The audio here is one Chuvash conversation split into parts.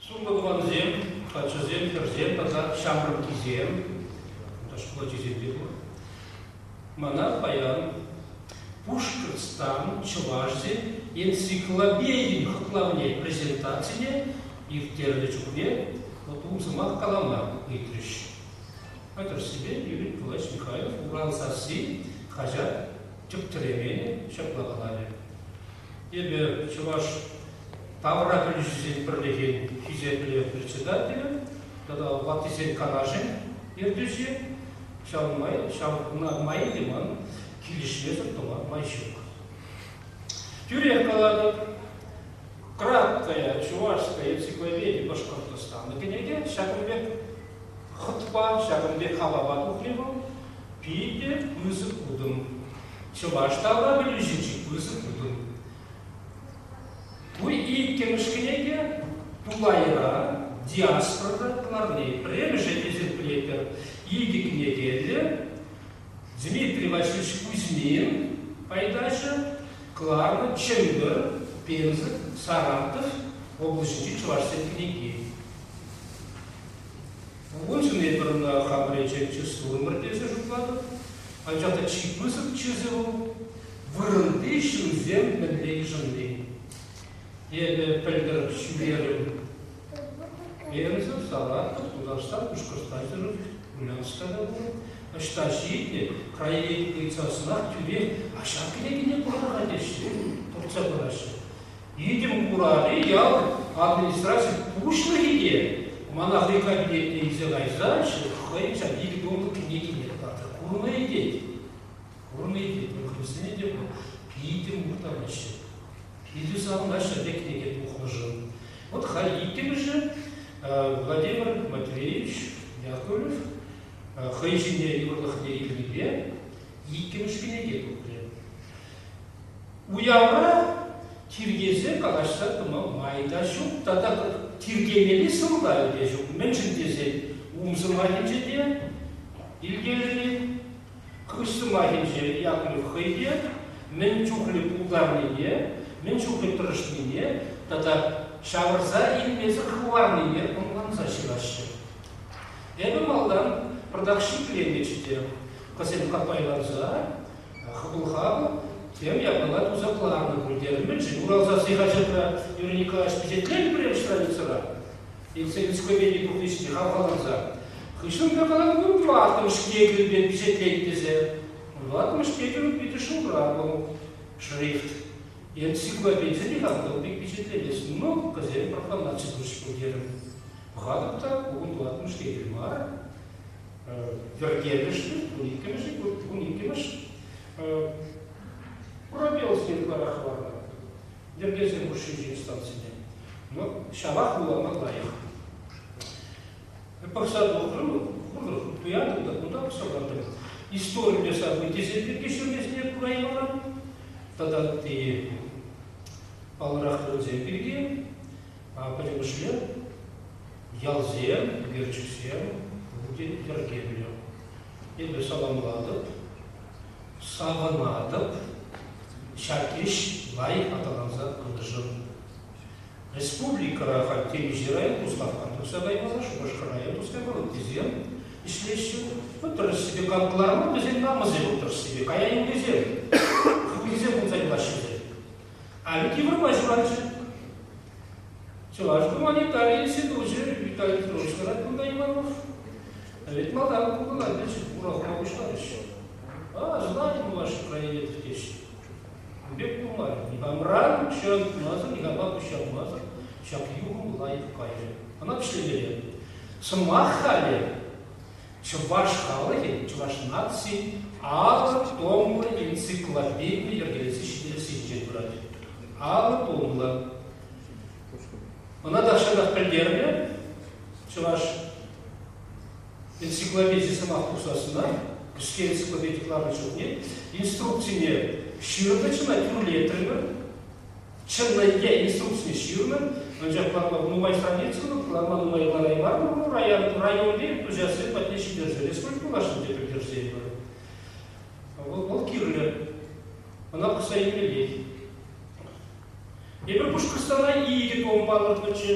Сумлӑ тӑвансем, каччӑсем, хӗрсем тата ҫамрӑккисем, шкул ачисемпе пур. Мана паян Пушкӑртстан чӑвашсен энциклопедин хӑтлавне презентацине ирттернӗ чухне вот ум сӑмах калама ыйтрӗҫ. тӑршшӗпе пирӗн калаҫ Михайлов урам сасси хаҫат тӗп-тӗреве ҫапла каларӗ. Эпӗ чӑваш тавра пӗлӳҫӗсен пӗрлӗхӗн хисеплӗ председателӗ тата ваттисен канашӗн ертӳҫи, ҫавӑн май ҫав май те ман килӗшмесӗр тӑма май ҫук. Тӳрех калатӑп, Краткая чувашская энциклопедия Башкортостана кӗнеке ҫакӑн пек Хӑтпа ҫакӑн пек апапа тухрӗ вӑл, питӗ пысӑк утӑм. Чӑваш тавра пӗлӳҫӗччӗ пысӑк утӑм. Ку иккӗмӗш кӗнеке тулайра диаспора кӑларни. Пӗрремӗше эсир пӗлетӗр, икӗ кӗнекеллӗ. Дмитрий Васильевич Кузьмин пайташӗ кӑларнӑ Чӗмпӗр, Пенза, Саратов облаҫӗнчи чӑвашсен кӗнеки. Уншӑн эпир ӑна хапречеччӗ сурӑмӑр тесе шутлатӑп, анчах та чи пысӑкчӗсӗ вӑл, вырӑнти ҫынсем мӗнле йышӑнни. Эпӗ пӗлтӗр ҫӳрерӗм Пенза, Салатов, Тутарстан, Пушкӑртстансем, Ульянска та пур. Ӑҫта ҫитнӗ, краевед ыйтсассӑнах тӳрех «А ҫак кӗнекене куратӑр-ха» теҫҫӗ, туртса параҫҫӗ. Витӗм Курали ял администрацин пуҫлӑхӗ те мана хӑй кабинетне илсе кайса хӑйӗн ҫак икӗ томлӑ кӗнекине татса курнӑ тет. Курнӑ тет, мӗнсене те пур. Питӗ мухтанаҫҫӗ. Питӗ савӑнаҫҫӗ те кӗнеке тухнӑшӑн. Вот хай иккӗмӗшӗ Владимир Матвеевич Яковлев хӑй ҫине юрлӑхне илнипе иккӗмӗш кӗнеке тухрӗ. Уявра тиркесе калаҫса тӑма май та ҫук тата тиркемелли сӑмахӗ те ҫук. Мӗншӗн тесен ум сӑмахӗнче те илкелӗн, хыҫ сӑмахӗнче Яков хӑй те мӗн чухлӗ пултарнине, мӗн чухлӗ тӑрӑшнине тата ҫавӑрса илмесӗр хӑварнине ӑнланса ҫыраҫҫӗ. Эпӗ малтан пӑртак шикленнӗччӗ те, кӑсем каппайланса Хӑтлӑха вӑл тем япала тусахланӑ пуль терӗ. Мӗншӗн урал сасси хаҫатра наверняка ӗҫ пичетленӗ пӗрем страницӑра? Энциклопеди пурнӑҫне хавхаланса. Хыҫҫӑн та калатӑпӑр, тӑваттӑмӗш кӗнекӳ пек пичетлет тесе. Тӑваттӑмӗш кӗнекӳн питӗ шултра вӑл шрифт. Энциклопедине хавхал пек пичетленес, но пӗсем пӑрханатчӗ пуль терӗм. Пӑхатӑп та, ку тӑваттӑмӗш кӗнекӳ мар. пӗркелӗшне, ун иккӗмӗшӗ, ун иккӗмӗш пробелсем ытларах ларнӑ йӗркесем хушшинчи станцине. Ну, ҫавах вулама лайӑх. Пӑхса тухрӑм, куртӑм, туянтӑм та кунта пӑхса лартӑм. Историлле событисем пирки ҫӳрмесне кура юларӑм. Тата ытти паллӑрах кунсем пирки Пӗрремӗшне ялсем, ӳкерчӗксем пурте йӗркеллӗ. Эпӗ саламлатӑп, савӑнатӑп. Ҫак ӗҫ лайӑх аталанса пытӑшӑн. Республикӑра халь темиҫе район туслашма тухса каймалла, Шупашкар район тухса кайма ыттисем ӗҫлеҫҫӗ. Отрасльте кам кӑларман, вӗсен намӑсем отрасльте кая юлнисем. Хӑвнисем пулса юлаҫҫӗ те. Халӗ тепӗр ҫӑваҫҫӗ. Чӑваш гуманитари институчӗ Виталий Петрович Радкунда Иванов пӗлет малтан пухӑна кӗчӗ, урахла пуҫларӗҫ. А, знаем ваше проект теҫҫӗ. Ун пек пулмарӗ. Никамран укҫа тумасӑр, никама куҫармасӑр ҫак юхӑм лайӑх кайрӗ. Ӑна вӗҫлемелле. Сӑмах халӗ Чӑваш халӑхӗн чӑваш нацин алӑ томлӑ энциклопеди йӗркелесе ҫитерессинчен пырать. Алӑ томлӑ. Ӑна тахҫанах пӗлтернӗ чӑваш энциклопеди сӑмах тухсассӑна, кӗске энциклопеди кӑларнӑ чухне инструкцине ҫырнӑ, чӑна тӳрлетрӗмӗр. Чӑнна е инструкци ҫырнӑ, анчах ватлӑх нумай страницӑллӑ курама нумай лараймарӑмӑр. Районти хуҫасем патне ҫитерсе республика влаҫӗнче пӗлтерсетпӗр. Вӑл, вӑл кирлӗ. Ӑна пӑхса илмеллех. Эпир Пушкӑртстана икӗ томм палӑртнӑччӗ.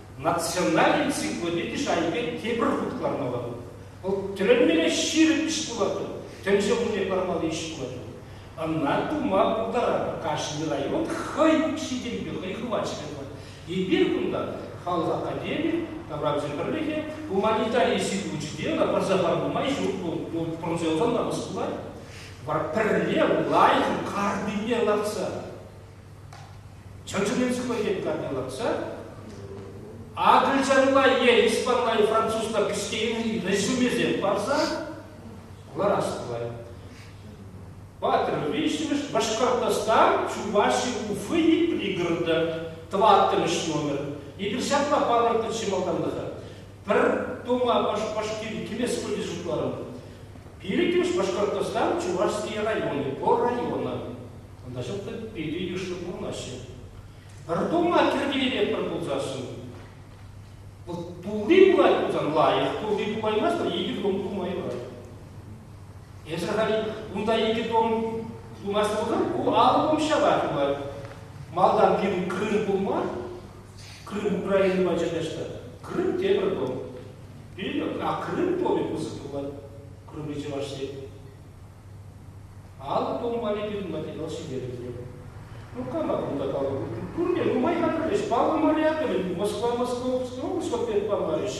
национальный энциклопеди шайӗпе тепӗр хут кӑлармалла. Вӑл тӗлӗнмелле ҫирӗп ӗҫ пулатӑр, тӗнче умне пармалли ӗҫ пулатӑр. Ӑна тума пултаратӑр. Кашни район хӑй ҫитӗнпе, хӑй хӑвачӗпе пулать. Эпир кунта, халӑх академи, таврапӗсен пӗрлӗхӗ, гуманитари институчӗпе ӑна пӑрса хӑварма май ҫук, вӑл пӑрӑнса юлсан намӑс пулать. Вара пӗрле лайӑх карнине лартса Чӑн-чӑннин сыхлӑхӗн планилатса акӑлчанла е испанла, французла кӗсьене резюмесем парса ларас тӑвать. Паттӑр виҫҫӗмӗш Башкортостан Чуваши Уфы и пригорода тӑваттӑмӗш номер. Эпир ҫапла палӑртнӑ чи малтанлӑха. Пӗр тома Башкирии килес вроде шутларӑм. Пилӗккӗмӗш Башкортостан Чувашские районы по районам. Кунта ҫӑлтӑр питӗ йышлӑ пурӑнаҫҫӗ. Пӗр тума тиркелетпӗр пулсассӑн. Вот тулли пулать пулсан лайӑх, тулли пулаймастӑр икӗ том тума юрать. Эсӗр халь унта икӗ том тумасть пулсан ку алӑ том ҫапать пулать. Малтан пирӗн Крым пул мар, Крым Украина пачӗ та Крым тепӗр том. Пилӗк, а Крым томӗ пысӑк пулать, Крымри Чӑваш Ен. Ан тумпа-ли тытма, тет вӑл ҫитерӗнсе. Ну кама кунта калӑпӑр? Пурне нумай хатӗрлӗҫ, паллӑ морякӑнӗн Москва, Московское облаҫпа пек палларӗҫ.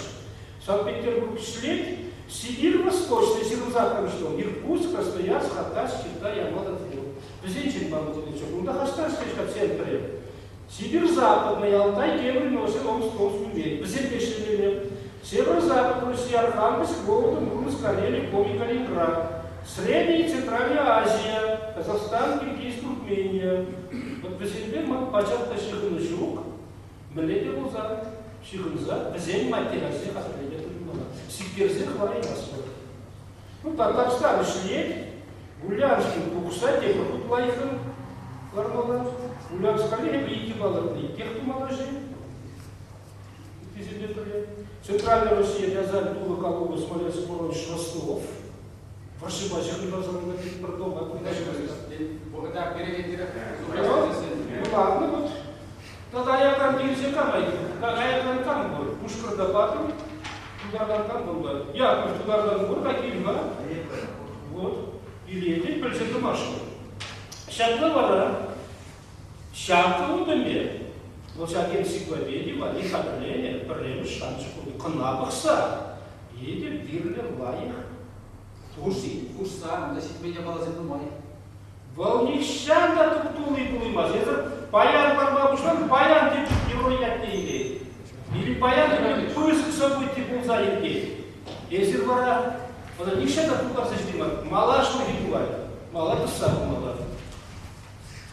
Санкт-Петербург ҫлет, Сибирь восточнӑй ҫырӑнсах кӑнӑҫтӑм, Иркутск, Красноярск, Хатаҫ, Китай, Ямада, Тверь. Вӗсенчен паллӑ тетӗнччӗ. Кунта хастар ӗҫлеҫ-ха центр-и? Сидир Западна ялта евӗр мӑшӑр Омском ҫӳлтен, вӗсемпе ӗҫлетӗмӗр. Север Запад Руҫия Архангельск Голодом Груз Карели Комикалибра, Средняя и Центральная Азия, Казахстан, Киргиз, Туркмения. Вӑт вӗсемпе ман пачах та ҫыхӑну ҫук, мӗнле те пулсан ҫыхӑнса вӗсен маттераси хатӗрлеме тытӑнмалла, сиктерсе хӑвараймастпӑр. Кунта тахҫан ӗҫлет, Гуляншӑн тухӑҫра тепӗр хут лайӑхран лармалла. Гуляншкалле эпӗ иккӗ палӑртнӑ, иккех тумалла-ши? Иккисемпе пӗрле. Центральная Россия Рязань тулӑ калубы Смоленск воронеж Краснов вӑрҫӑпа ҫыхӑннӑ салонта пит пӗр томпа кунта ҫывӑрать. Вӑхӑта перекетлерех. Ладно, вот. Тата аякран ирчӗ кама-и? Аякран кам пур? Пушкӑртапа-и? Тутартан кам пулнӑ? Якур, тутартан пур-ха, кил-ха. Вот, илетӗн, пӗлсе тӑмасть-ҫке. Ҫакна вара ҫакӑ утӑмӗ, вӑл ҫак энциклопеди валли хатӗрленӗ пӗрремӗш шанчӑк утӑ. Кӑна пӑхса, етӗр вирлӗх лайӑх. Тухӑҫ-и? Хушсан та ҫитмен япаласем нумай. Вӑл нихҫан та туп-тулли пулаймасть. Эсӗр паян парма пуҫлан, паян те чухне ятне илет. Или паян или пысӑк событий пулса иртет. Эсир вара ӑна нихҫан та пултарса ҫитеймӗр. Малашнехи пулать, мала тӑсса пымалла.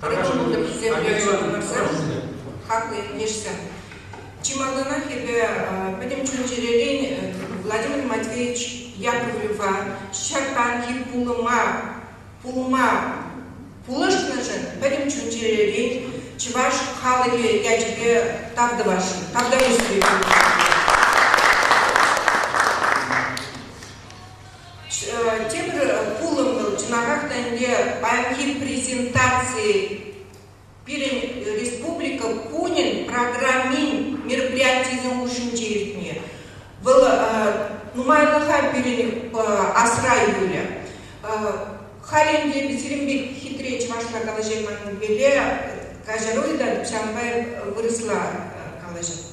Тӑрӑхӑн тӑрӑхӗсем хаклӑ ентешсем. Чи малтанах эпӗ пӗтӗм чун-чӗререн Владимир Матвеевич Яковлева ҫартанхи пулӑма пулма пулӑшнӑшӑн пӗтӗм чун-чӗререн чӑваш халӑхӗ ячӗпе тав тӑвасшӑн, тавтапуҫ сире. тепӗр пулӑм вӑл чӑнахах та ӗнтӗ паянхи презентаци пирӗн республика кунӗн программин мероприятийӗсем хушшинче иртни вӑл нумайлӑха пирӗн асра юлӗ халь ӗнтӗ сирӗн пек хитре чӑвашла калаҫайманнипеле каҫаруй та ҫавӑнпа вырӑсла калаҫать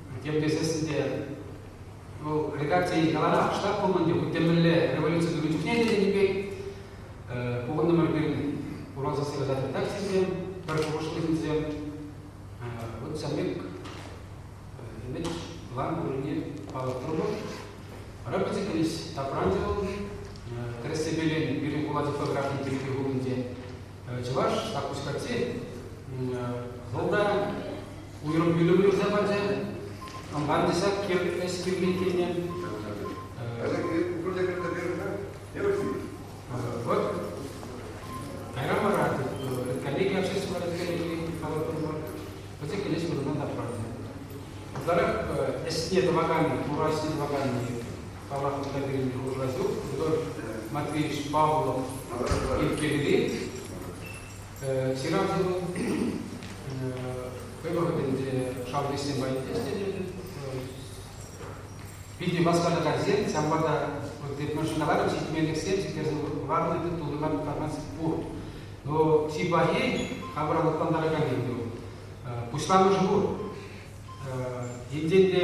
йӗркесессӗн те вӑл редакцие яланах штат пулман те хуть те мӗнле революци тунӑ чухне те тенӗ пек пухӑннӑ мӗрпел уралса сывласа тытаҫҫӗсем пӗр шухӑшлисем вот ҫавӑн пек имидж план пуррине палӑртрӑмӑр рӑпӑсӗ кӗнӗҫ тапранчӗ вӑл тӗрӗссепелен пирӗн хула типографи директор хулинче чӑваш запускатти вӑлта уйрӑм пӳлӗм юрса пачӗ. Амбан десак эс кирли килнӗ. Вот. Кайран вара коллеги общественного республики калаттӑмӑр, вӗсем килес вырӑна та правда. Ытларах ӗсне тӑвакан, турассине тӑвакан палӑртнӑ пирки хушасу Матвеевич Павлов ирттерӳри ҫыравҫӑну хӑй вӑхӑтӗнче шалкӑҫсем патне ӗҫленӗ. Питӗ васкатакансем, ҫавӑнпа та машиналарым ҫитменлӗхсем ҫитерсе хӑварнӑ тытуллӑна пытарман пур. Но чи пахи, хамӑра лӑплантараканни вӑл. Пуҫламӑшӗ пур. Енчен те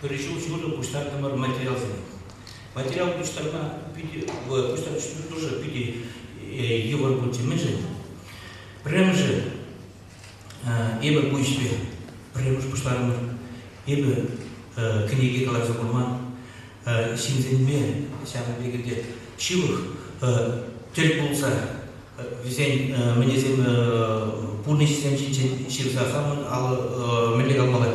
пӗр ҫул ҫурӑ пуҫтартӑмӑр материалсем. Материал пуҫтарма питӗ, пуҫтарӑшлӑхӗ питӗ йывӑр пулчӗ. Мӗншӗн? Пӗрремӗшӗ, эпӗ ку ӗҫпе пӗрремӗш пуҫларӑмӑр. Эпӗ кӗнеке каларса курман, ҫынсенме ҫавӑн пекӗлте ҫывӑх тӗл пулса вӗсен мӗнесем пурнӑҫӗсем ҫинчен ҫырса хамӑн алӑ мӗнле калмалла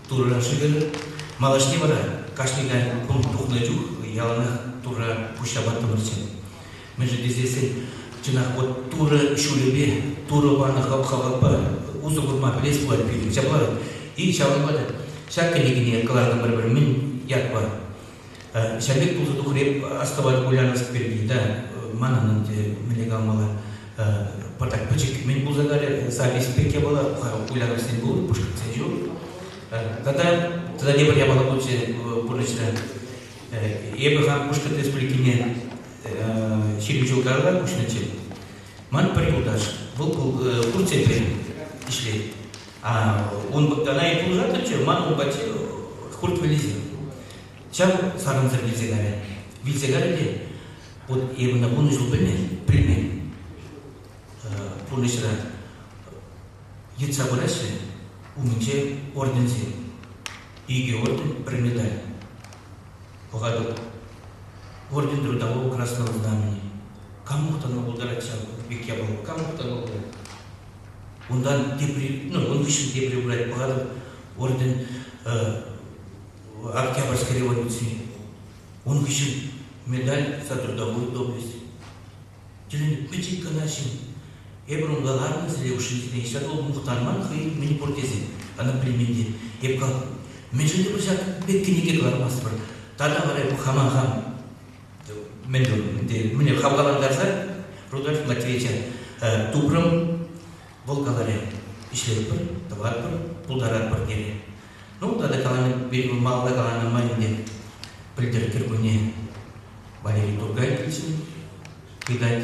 Турӑ шӗкӗр малашне вара кашни кун тухнӑ чух яланах Турра пуҫҫапаттӑмӑрччӗ. Мӗншӗн тесессӗн чӑнах вот Турӑ ҫулӗпе, Турӑ панӑ хаваппа усӑ курма пӗлес пулать пирӗн. Ҫапла-и? Ҫавӑнпа та ҫак кӗнекене кӑлартӑмӑр-пӗр мӗн ятпа. Ҫав пек пулса тухрӗ эп астӑвать Ульяновск пирки та. Манӑн ӗнтӗ мӗне калмалла. Пӑтак пӗчӗк кӗмен пулса калӗ. Запись пек япала Ульяновсксен пулнӑ Пушкӑртсен ҫул. Тата тата тепӗр япала пулчӗ пурнӑҫра. Эпӗ хан Пушкӑрт Республикине ҫирӗм ҫул каялла куҫнӑччӗ. Ман пӗр юлташ, вӑл пур тепре ӗҫлет. Ун тӑна-и пулса тӑчӗ ман ун патне хурт вӗллисем. Ҫав сарӑмсӑр вилсе кайрӗ. Вилсе кайрӗ те, эпӗ ӑна вунӑ ҫул пӗлмен, пӗлмен. Пурнӑҫра йӑтса пыраҫҫӗ умӗнче орденсем. Икӗ орден, пӗр медаль. Пӑхатӑп, орден того Красного Знамени. Кам тӑна пултарать ҫав пек япала, кам тӑна пултарать? Унтан тепри, ну, ун хыҫҫӑн тепри пырать пӑхатӑп, орден Октябрьской революцине. Ун хыҫҫӑн медаль за трудовую доблесть. Тӳленӗ пӗчӗк кӑна ҫын. Эпир унта ларнӑ сире хушшинче ҫак вӑл мухтанман хӑй мӗн пур тесен. Ана пӗлмен те. Эп кал, мӗншӗн те пуль ҫак пек кӗнеке кӑлармастпӑр. Тата вара хама хам мӗн мӗне хавхалантарса Рудольф Матвеевича тупрӑм. Вӑл каларӗ, ӗҫлетпӗр, тӑватпӑр, пултаратпӑр терӗ. Ну, тата каланӑ, малалла каланӑ май ӗнтӗ пӗлтӗр кӗркунне Валерий Тургай килчӗ, тытать.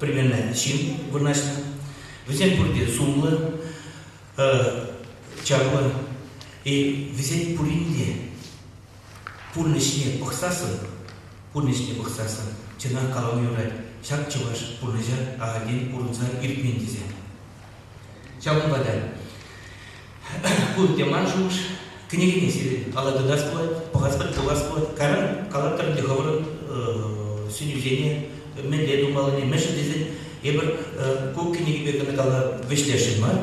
пӗрмелнӗ ҫын вырнаҫнӑ. Вӗсем пурте сумлӑ, чаплӑ. Вӗсен пурин те пурнӑҫне пӑхсассӑн, пурнӑҫне пӑхсассӑн чӑнах калама юрать, ҫак чӑваш пурнӑҫа ахальтен пурӑнса иртмен тесе. Ҫавӑнпа та кунти ман шухӑш кӗнекене сирӗн кала тытас пулать, пӑхас пулас пулать. Кайран калатӑр те хӑвӑрӑн сӗнӳсене, мӗнле тумаллине, мӗншӗн тесен эпир ку кӗнекепе кӑна кала вӗҫлесшӗн мар,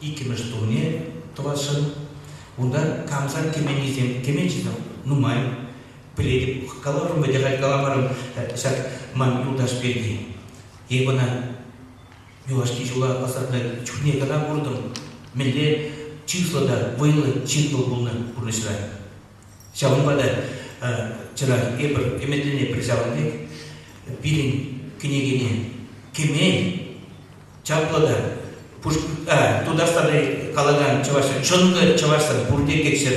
иккӗмӗш тумне тӑвасшӑн. Унта камсар кӗменнисем кӗменчи те нумай. Пӗлетӗп, каларӑм вӗтӗ халь каламарӑм ҫак ман юлташ пирки. Эпӗ ӑна юлашки ҫула пасарта чухне кӑна куртӑм, мӗнле чыслӑ та вӑйлӑ ҫын пулнӑ пурнӑҫра. Ҫавӑнпа та вчера эпир ӗмӗтлене пӗр ҫавӑн пек пирӗн кӗнекене кӗмел чаплӑ та Тутарстанда калакан чӑвашла чӑнкӑ чӑвашла пурте кеччӗр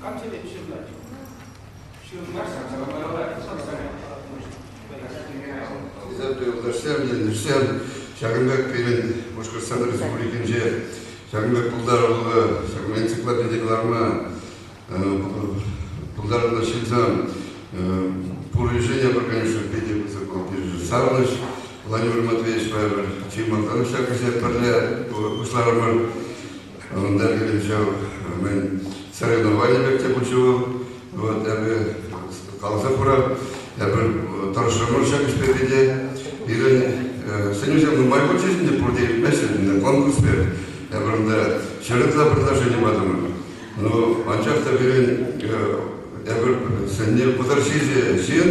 Кам сенӗк ҫырнать? Ҫырмасть, самоваралать, Изотто юлташсем, ӗҫсем ҫакӑн пек пирӗн Башкортстан Республикинче ҫакӑн пек пултаруллӑ, ҫакӑн энциклопеди кӑларма пултаруллӑ ҫынсем пур решение пӗр конечно питӗ пысӑк вӑл пирӗн савӑнӑҫ. Владимир Матвеевичпа эпир чи малтанах ҫак ӗҫе пӗрле пуҫларӑмӑр. Ӑнта килен ҫав, мӗн, Серегина Ваня пек те пулчӗ вӑл. Вот, эпӗ каласа хура, эпир тӑрӑшрӑмӑр ҫак ӗҫпе пӗте. Пирӗн сӗнӳсем нумай пулчӗҫ ӗнтӗ, пурте илтмеҫҫӗ ӗнтӗ конкурспе. Эпир унта ҫӗр ытла предложени патӑмӑр. Ну, анчах та пирӗн эпир сӗнни пӑтӑр ҫичӗ ҫын,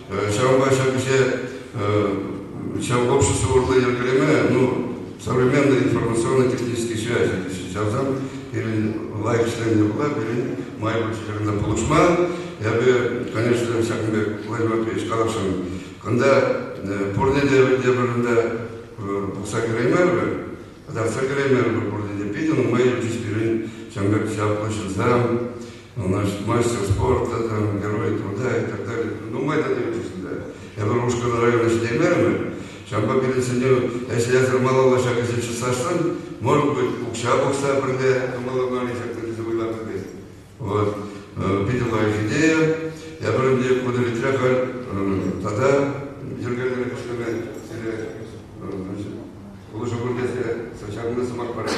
Ҫавӑнпа ҫак ӗҫе ҫав общество урлӑ йӗркелеме, ну, современный информационно технический связь чавсан пирӗн лайӑх ӗҫленӗ пула пирӗн май пур чекарта пулӑшма. Эпӗ, конечно, ҫакӑн пек флешмобпа ӗҫ каласшӑн. Кунта пурне те те вырӑнта пухса кӗреймерӗмӗр, татах та кӗреймерӗмӗр пурне те. Питӗ нумай ҫул пирӗн ҫавӑн пек чаплӑ ҫынсем, наш мастер спорт, там, герой труда и так далее. Ну, мы это тивчӗҫ ӗнтӗ. Эпир Ушкӑн района ҫитеймерӗмӗр. Ҫавӑнпа пирӗн сӗнӳ, если язык малалла ҫак ӗҫе чысласшӑн, может быть, укҫа пухса пӗрле малалла мали ҫак тесе вӑйлатӑр тет. Вот. Питӗ лайӑх идея. Эпир ӗнтӗ удовлетворя халь тата йӗркеллӗ ӗҫлеме сире улӑшу кӳртесе чарнӑ сӑмах парать.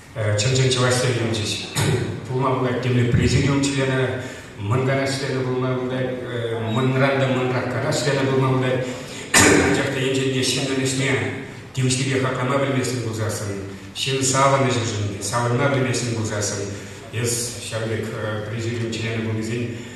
Чӑн-чӑн чӑваш сӗввӗнчӗҫ. Пулма пулать темле президиум членӗ мӑнкана членӗ пулма пулать, мӑнран та мӑнраккана членӗ пулма пулать. Анчах та енчен ҫыннӑн ӗҫне тивӗҫлипе хаклама пӗлместӗн пулсассӑн, ҫын савӑнӑҫӗшӗн, савӑнма пӗлместӗн пулсассӑн, эс ҫав пек президиум членӗ пулнисен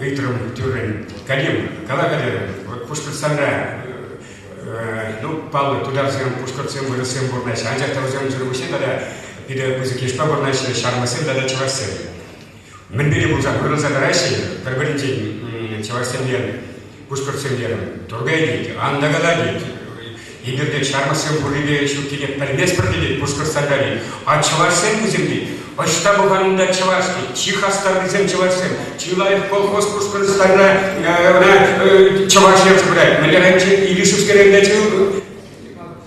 ыйтрӑм тӳррӗн Калимов, кала Калимов, Пушкӑртстанра ну, паллӑ тутарсем, пушкӑртсем, вырӑссем вырнаҫнӑ, анчах та вӗсемсӗр пуҫне тата питӗ пысӑк йышпа вырнаҫнӑ ҫармӑссем тата чӑвашсем. Мӗн пирки пулсан, вырӑнса тӑраҫҫӗ пӗр-пӗринчен чӑвашсемпе Пушкӑртсем терӗм, Тургай тет, ан накала тет. Эпир тет, ҫармӑссем пуррипе ҫуккине пӗлместпӗр тет пушкӑрт салтакӗ. А чӑвашсем вӗсем тет, ӑҫта пӑханунта чӑваш тет, чи хастаррисем чӑвашсем, чи лайӑх колхоз Пушкӑртстанра ӑна чӑваш ертсе пырать. Мӗнле районче? Илишевский районта чыл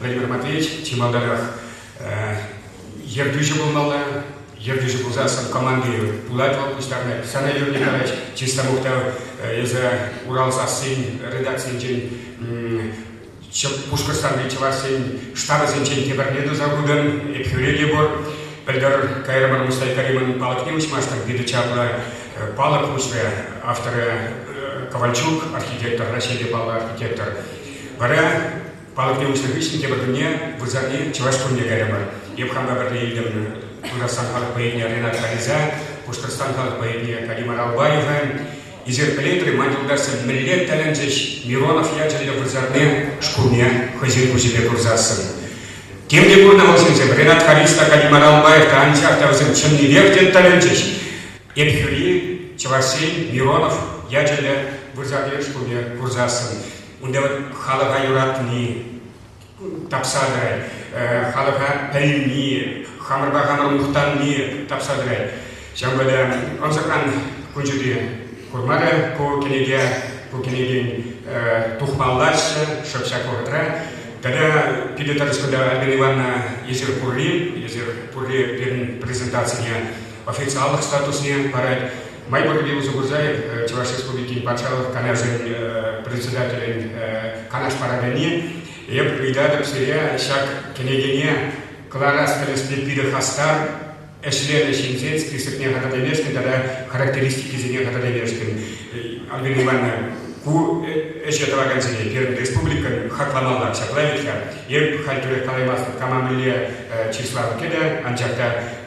Владимир Матвеевич чи малтанах ертӳҫӗ пулмалла. Ертӳҫӗ пулсассӑн команди пулать вӑл пуҫтарӑнать. Сана, Юрий Николаевич, чисто мухтав эсӗ Урал сассин редакцийӗнчен Пушкӑртстанри чӑвашсен штабӗсенчен тепӗрне туса хутӑн. Епхӳре те пур. Пӗлтӗр кайрӑмӑр Мустай Каримӑн палӑкне уҫмашкӑн питӗ чаплӑ палӑк уҫрӗ. Авторӗ Ковальчук, архитектор, Раҫҫейри паллӑ архитектор. Вара палӑкне уҫнӑ хыҫҫӑн тепӗр кунне вырсарни чӑваш кунне кайрӑмӑр. Эп хампа пӗрле илтӗм Тутарстан халӑх поэтне Ренат Халиса, Пушкӑртстан халӑх поэтне Галимар Албаева. Исеркелетрӗ, ман юлташсем мӗнле тӗлӗнчӗҫ Миронов ячӗллӗ вырсарни шкулне хӑйсен куҫӗпе курсассӑн. Тем те курнӑ вӑл ҫынсем. Ренат Халис та, Галимар Албаев та, анчах та вӗсем чӑннипех те тӗлӗнчӗҫ. Эп хӳри, чӑвашсен Миронов ячӗллӗ вырсарни шкулне курсассӑн Унта халӑха юратни тапса тӑрать, халӑха пӗлни, хамӑрпа хамӑр мухтанни тапса тӑрать. Ҫавӑнпа та ӑнсӑртран кун ҫути курмарӗ ку кӗнеке. Ку кӗнекен тухмаллаччӗ шӑп ҫак вӑхӑтра. Тата питӗ тӑрӑш кунта Альбина Ивановна эсир пурри, эсир пурри пирӗн презентацине официаллӑх статусне парать. Май пуррипе усӑ курса Чӑваш Республикин Патшалӑх Канашӗн председателӗн канаш параканне эп ыйтатӑп сире ҫак кӗнекене кӑларас тӗлӗшпе питӗ хастар ӗҫленӗ ҫынсен списокне хатӗрлемешкӗн тата характеристикисене хатӗрлемешкӗн Альбина Ивановна ку ӗҫе тӑвакансене пирӗн республикӑн хакламалла ҫапла вӗт-ха. Эп халь тӳрех калаймастӑп кама мӗнле числа кӗтӗ, анчах та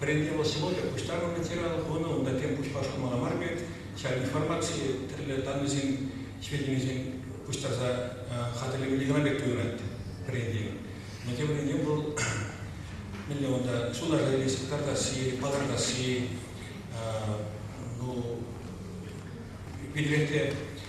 Вӗрентӳ пособийӗ пуҫтарӑннӑ ветеран хунӑ унта тем пуҫпа шӑтмалла мар пек, ҫав информаци тӗрлӗ даннӑйсен сведенисем пуҫтарса хатӗрлемелли кӑна пек туйӑнать вӗрентӳ. Но тем вӗрентӳ вӑл мӗнле унта сунарса илесси, картасси, палӑртасси, ну, питӗрехте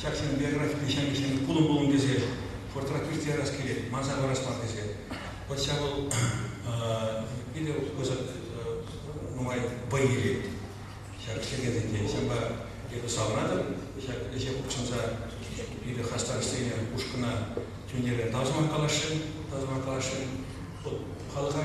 ҫак ҫемье кӗҫӗн пулӑм-пулӑм тесе портрет ирттерес килет, манса парас мар тесе. Вот ҫав вӑл питӗ нумай вӑй илет ҫак ҫемьесенче. Ҫавӑнпа эпӗ савӑнатӑп ҫак ӗҫе хутшӑнса питӗ хастар ӗҫленӗ ушкӑна тӳнерен тав сӑмах каласшӑн, тав сӑмах каласшӑн. Вот халӑха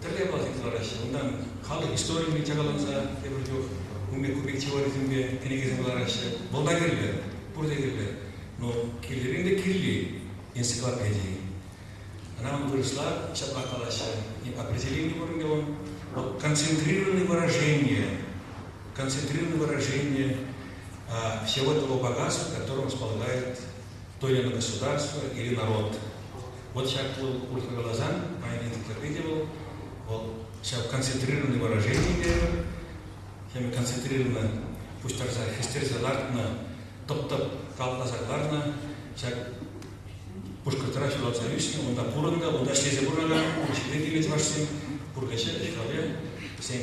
Тӗрлӗ япала тыттараҫҫӗ. Унтан халӑх историйӗ чакаланса тепӗр чух ун пек купек теорисемпе кӗнекесем кӑлараҫҫӗ. Вӑл та кирлӗ, пурте кирлӗ. Но кирлӗрен те кирли энциклопеди. Ӑна вырӑсла ҫапла калаҫҫӗ, не определение уровня он, вот концентрированное выражение, концентрированное выражение всего того богатства, в котором располагает Доля государства или народ. Вот ҫаплӑ урӑхла каласан, паян энциклопедия вӑл, вӑл ҫав концентрированный выражение терӗмӗр, ҫав концентрированно пуҫтарса, хӗстерсе лартнӑ, тӑп-тӑп калтласа кӑларнӑ, ҫак Пушкӑртра ҫуралса ӳснӗ, унта пурӑннӑ, унта ӗҫлесе пурӑнакан ун ҫине килнӗ чӑвашсем, пурнӑҫӗ, ӗҫ-хӗле, вӗсен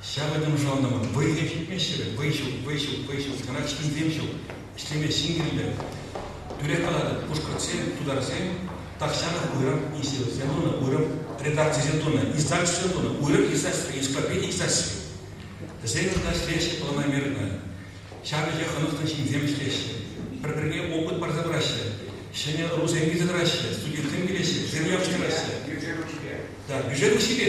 Ҫавӑ ним шалнӑ вӑл. Вӑйсем ҫитмеҫҫӗ-вӗт. Вӑй ҫук, вӑй ҫук, вӑй ҫук. Сана чӗнсем ҫук. Ӗҫлеме ҫын кирлӗ. Тӳрех калатӑп, пушкӑртсем, тутарсем тахҫанах уйрӑм институтсем тунӑ, уйрӑм редакцисем тунӑ, издательство тунӑ, уйрӑм издательство, энциклопеди издательстви. Вӗсем кунта ӗҫлеҫҫӗ, ӑна мер тунӑ. Ҫав вӗҫе хӑнӑхнӑ ҫынсем ӗҫлеҫҫӗ. Пӗр-пӗрне опыт парса пыраҫҫӗ. Ҫӗнӗ РУСем килсе тӑраҫҫӗ, студентсем килеҫҫӗ, вӗсем явӑҫтараҫҫӗ. Бюджет ушипе. Да, бюджет ушипе.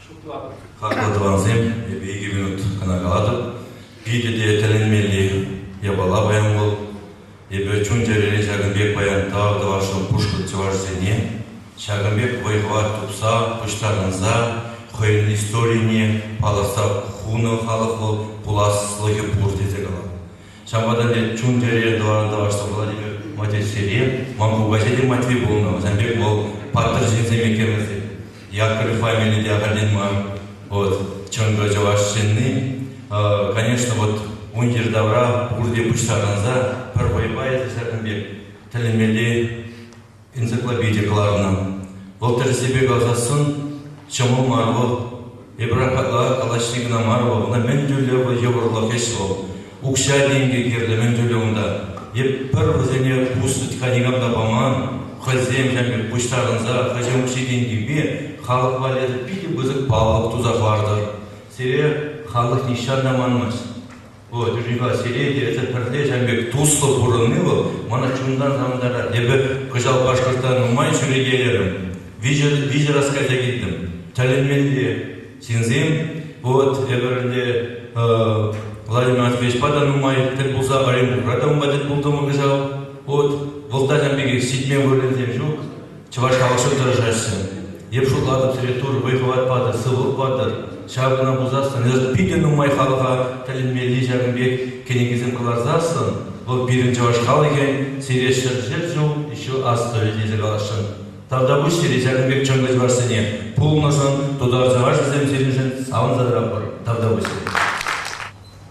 Хаклӑ тӑвансем, эпӗ икӗ минут кӑна калатӑп. Питӗ те тӗлӗнмелли япала паян вӑл. Эпӗ чун-чӗрере ҫакӑн пек паян тав тӑвасшӑн пушкӑрт чӑвашӗсене. Ҫакӑн пек вӑй-хӑват тупса, пуҫтарӑнса хӑйӗн историне палӑртса хунӑ халӑх вӑл пуласлӑхӗ пур тесе калам. Ҫавӑнпа та ӗнтӗ чун-чӗре тӑванран тавӑшса пулать Матьӑҫсене. Ман кукаҫи те Матви пулнӑ. Вӗсем пек вӑл паттӑр ҫынсем иккен вӗсем. Якорь фамили те ахальтен мар. Вот. Чӑнкӑ чӑваш ҫынни. Конечно, вот ун йӗр тавра пурте пуҫтарӑнса пӗр вӑйпа эсӗ ҫакӑн пек тӗлӗнмелли энциклопеди кӑларнӑ. Вӑл тӗрӗсепе калаҫассӑн ҫӑмӑл мар вӑл. Эпир апата калаҫни кӑна мар вӑл, ӑна мӗн тӳрлӗ вӑл йывӑрлӑх ӗҫ вӑл. Укҫа-тенкӗ кирлӗ мӗн тӳрлӗ унта. Е пӗр вӗсене пус тытка никам та паман, хӑйсем ҫав пек пуҫтарӑнса хӑйсем укҫи-тенкипе халӑх валли питӗ пысӑк паллӑк туса хӑвартӑр. Сире халӑх нихҫан та манмасть. Людвига Селентьев эсӗ пӗрле ҫав пек туслӑ пурӑнни вӑл мана чунтан савӑнтарать. Эпӗ кӑҫал Башкортра нумай ҫӳрекелерӗм, виҫӗ раз кайса килтӗм. Тӗлӗнмелле ҫынсем. Вот эпир ӗнтӗ Владимир Матвеевичпа та нумай тӗл пулса Оренбургра та унпа тӗл пултӑмӑр кӑҫал. Вот вӑл та ҫав пекех ҫитмен вырӑнсем ҫук. Чӑваш халӑхшӑн тӑрӑшаҫҫӗ. Эп шутлатӑп, тӗрӗс-тур, вӑй-хӑват патӑр, сывлӑх патӑр. Ҫав кӑна пулсассӑн, эсӗ питӗ нумай халӑха тӗлӗнмелли ҫакӑн пек кӗнекесем кӑларсассӑн, вӑл пирӗн чӑваш халӑхӗн сире ҫӗр-ҫӗр ҫул ҫу астӑвӗ тесе каласшӑн. Тавтапуҫ сире ҫакӑн пек чӑнкӑ чӑвашсене, пулнӑшӑн, тутар-чӑвашӗсем сирӗншӗн савӑнсах тавтапуҫ сире.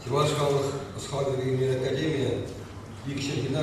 Чӑваш халӑх ӑс-хакӑлӗн академийӗ икҫӗмҫина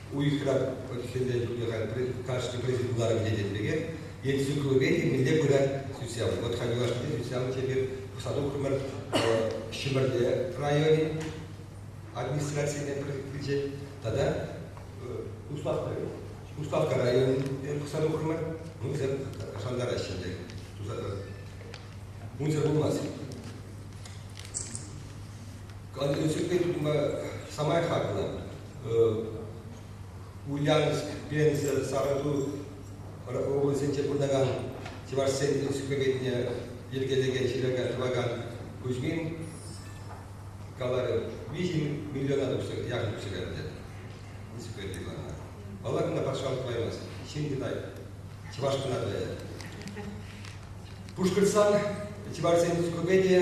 Уйӑхра хӗлле кунӗ халь кашни президент куларӑмӗнче тенӗ пекех энциклопеди мӗнле пырать хресчен. Вот ходил юлашкинче хресчен тепер сатукрӑмӑр Ҫӗмӗрле районӗн администрацине килчӗ тата Уставка, Уставка районӗ сатукрӑмӑр. Унсӑр шантараҫҫӗ ӗнтӗ. Унсӑр пулмасть. Кантри-Тюпин самай хаклӑ. Ульяновск, Пенза, Сарату облаҫӗнче пурӑнакан чӑвашсен сӳклекенне йӗркелекен ҫырака тӑвакан Кузьмин каларӗ, виҫӗ миллиона яхӑн укҫа ӗнтӗ. Инспекторі вара. Паллакана патшалӑх тӑваймасть, ҫын китать, чӑваш кӑна тӑвӗ. Пушкӑртстан чӑвашсен энциклопедийӗ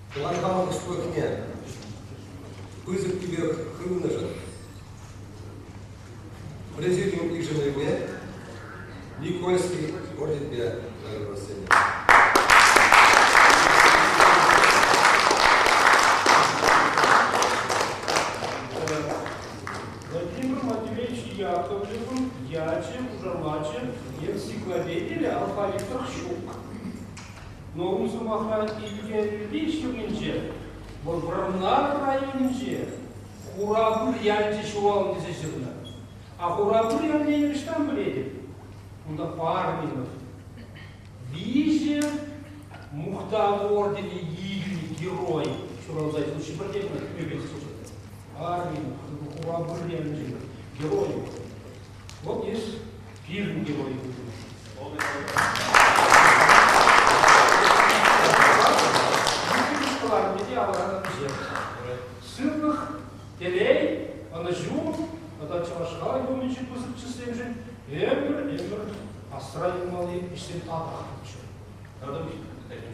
тӑван хамӑр ӑслӑхне пысӑк тӳпех хывнӑшӑн президиум йышӑнӑвӗпе Никольский орденпе тӑрӑшма сӗнӗ. Владимир Матвеевич Яковлевӑн ячӗ, хушамачӗ, энциклопедире алфавитов ҫук. Ну, ку сӑмахра Илкепӳ ҫумӗнче, вӑл Вӑрнар районӗнче Хурапыр ялӗнче ҫуралнӑ тесе ҫырнӑ. А Хурапыр ялне ӑҫтан пӗлетӗп? Кунта парне вӑл. Виҫӗ мухтав орденӗ илнӗ герой ҫуралса случай пӗрте кӑна пӗве слушать. Армин Хурапыр ялӗнче герой. Вот видишь, Пирӗн те вӑй хутӑмӑр. Кӑларни те авалранах пӗҫер. Сывлӑх, телей, ӑнӑҫу тата чӑваш халӑхӗ умӗнчи пысӑк чысемшӗн ӗмӗр, ӗмӗр асра юлмалли ӗҫсен татӑкчӗ. Радовик, пӗтӗм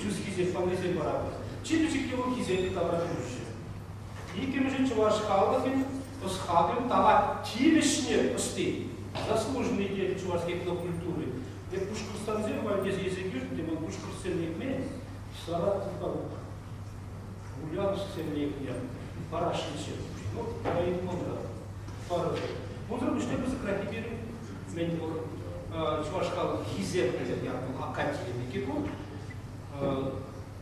чӳсхисен пӑррисем вара чи пӗчӗкки урӑххисен тавра кӗрӳҫҫӗ. Иккӗмӗшӗн чӑваш халӑхӗн ӑс-хакӑл тава тивӗҫне ӑсти, заслуженный деятель чӑваш этнокультури. Эп пушкӑртстансем валь тесе илсе килтӗм, вӑл пушкӑртсем лекмен, Саратовпа Ульяновсксем лекнӗ, Парашинсем. Ну, районта парӑсем. Унсӑр пуҫне пысӑкрах эпир Цмендимур Чувашкал хисеплӗ ятлӑ Акатий Микикун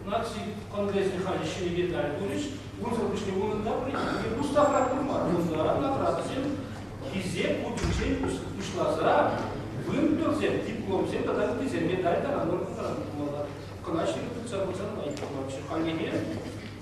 наци конгресӗн халӗ ҫӗнӗ медаль турӗҫ. Унсӑр пуҫне унӑн та премие Мустафа Курман тунӑ наградӑсем хисеп хутӗнчен пуҫласа вымпелсем, дипломсем тата ыттисем медаль тата нотӑран пулмалла. Кӑна ҫирӗп тытса пырсан май пулманччӗ. Хальлӗхе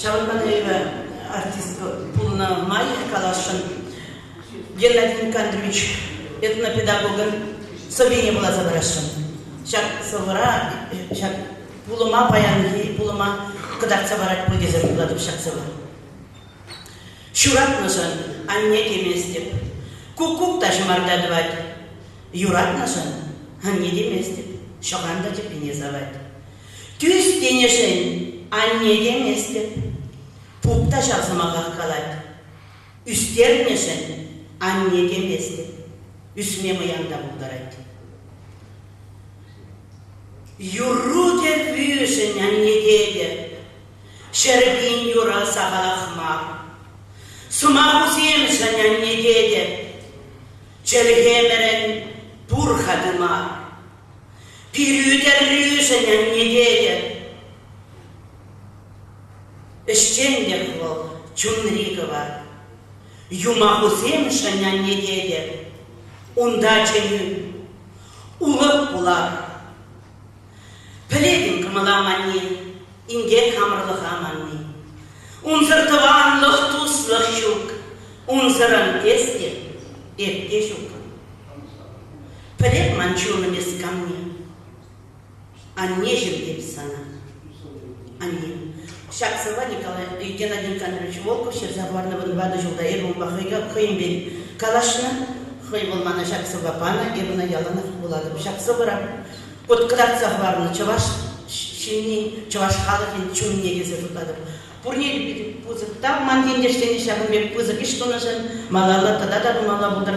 Ҫавӑнпа та эпӗ артист пулнӑ май каласшӑн. Геннадий Никандрович этнопедагогӑн сӑввине вуласа парасшӑн. Ҫак сӑвӑра ҫак пулӑма паянхи пулӑма кӑтартса парать пуль тесе шутлатӑп ҫак сӑвӑ. Ҫуратнӑшӑн анне теместӗп. Куккук та ҫӑмарта тӑвать. Юратнӑшӑн анне теместӗп. Ҫӑхан та тӗппине савать. Тӳс тенӗшӗн анне теместӗп, пуп та ҫав сӑмахах калать. Ӳстернӗшӗн анне теместӗп, ӳсме мӑян та пултарать. Юру кӗввишӗн анне тетӗп, ҫӗр пин юрӑ сахалах мар. Сӑмахусемшӗн анне тетӗп, чӗлхемӗрӗн пур-ха тымар. Пирӳ-тӗррӳшӗн ӗнететӗп. Ӗҫченлӗх вӑл чунри кӑвар. Юмахусемшӗн ӗнететӗп. Унта чӗнӳ, улӑп пулар. Пӗлетӗн кӑмӑла манни, инкек хамӑрлӑха манни. Унсӑр тӑванлӑх, туслӑх ҫук. Унсӑрӑн эс те, эп те ҫукӑн. Пӗлеп ман чунӑм эс камне. Аннеҫӗм эп сана. Анне. Ҫак сӑвва Николай Геннадий Александрович Волков ҫырса хӑварнӑ вӑтӑр ватӑ ҫулта эпӗ унпа хӑйӗнпе калаҫнӑ. Хӑй вӑл мана ҫак сӑвва панӑ, эпӗ ӑна яланах вулатӑп. Ҫак сӑвӑра пӑт кӑтартса хӑварнӑ чӑваш ҫынни, чӑваш халӑхӗн чунне тесе шутлатӑп. Пурне те питӗ пысӑк тав ман ентешсене ҫакӑн пек пысӑк ӗҫ тунӑшӑн. Малалла тата та тумалла пултӑр.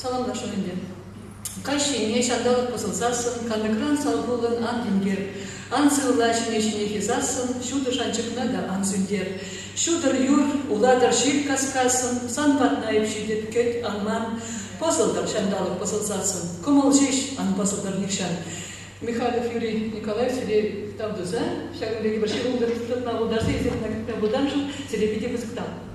Саламлашу ӗнтӗ. Каҫ ҫине ҫанталӑк пӑсӑлсассӑн, канӑкран салхуллӑн ан тинкер. Ан сывла ҫине-ҫинех юсассӑн, ҫутӑ шанчӑкна та ан сӳнтер. Ҫутӑр юр, улатӑр ҫил каскассӑн, сан патна эп ҫитӗп, кӗт, аман. Пӑсӑлтӑр ҫанталӑк пӑсӑлсассӑн, кӑмӑл ҫеҫ ан пӑсӑлтӑр нихҫан. Михалев Юрий Николаев сире тав туса ҫакӑн пирки вӑрҫи ултӑ тытма пултарса эсир кӑна кӑтра выртамшӑн сире питӗ кӑсӑктам.